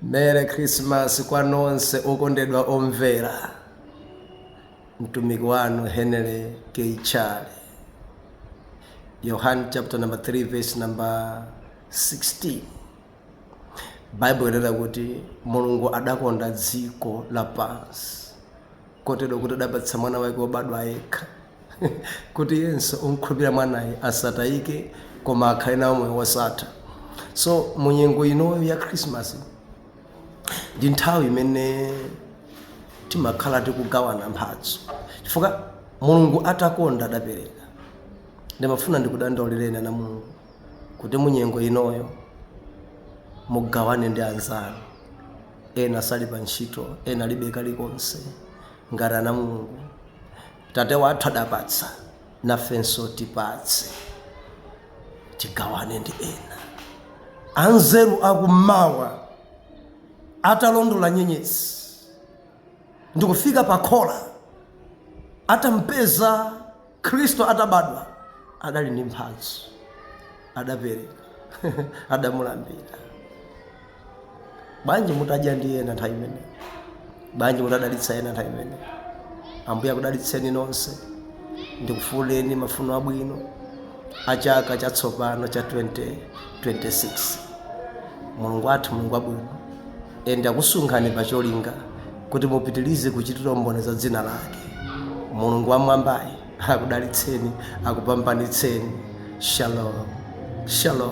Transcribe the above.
merry christmas kwa nonse okondedwa omvera mtumiki wanu henry k chale yohane chapter number 3 verse number 16 baibulo inena kuti mulungu adakonda dziko lapansi kotero kuti adapatsa Mwana wake wobadwa yekha, kuti yense omkhulupirira Mwanayo asatayike, koma akhale nawo moyo wosatha. So mu nyengo inoyo ya Christmas ndi nthawi imene timakhala tikugawana mphatso, chifukwa Mulungu atakonda adapereka. Ndimafuna ndikudandaulireni ana Mulungu kuti mu nyengo inoyo mugawane ndi anzanu. ena sali pa ntchito ena alibe kalikonse ngati ana mulungu tate wathu adapatsa nafenso tipatse tigawane ndi ena anzeru akummawa atalondola nyenyezi ndikufika pa khola atampeza Khristu atabadwa, adali ndi mphatso, adapereka, adamulambira. Bwanji mutadya ndi ena nthawi imeneyi? Bwanji mutadalitsa ena nthawi imeneyi? Ambuye akudalitseni nonse, ndikufunireni mafuno abwino a chaka chatsopano cha 2026. Mulungu wathu, Mulungu wabwino, ende akusungani pa cholinga kuti mupitilize kuchitira umboni za dzina lake mulungu wamwambayi akudalitseni akupambanitseni shalom shalom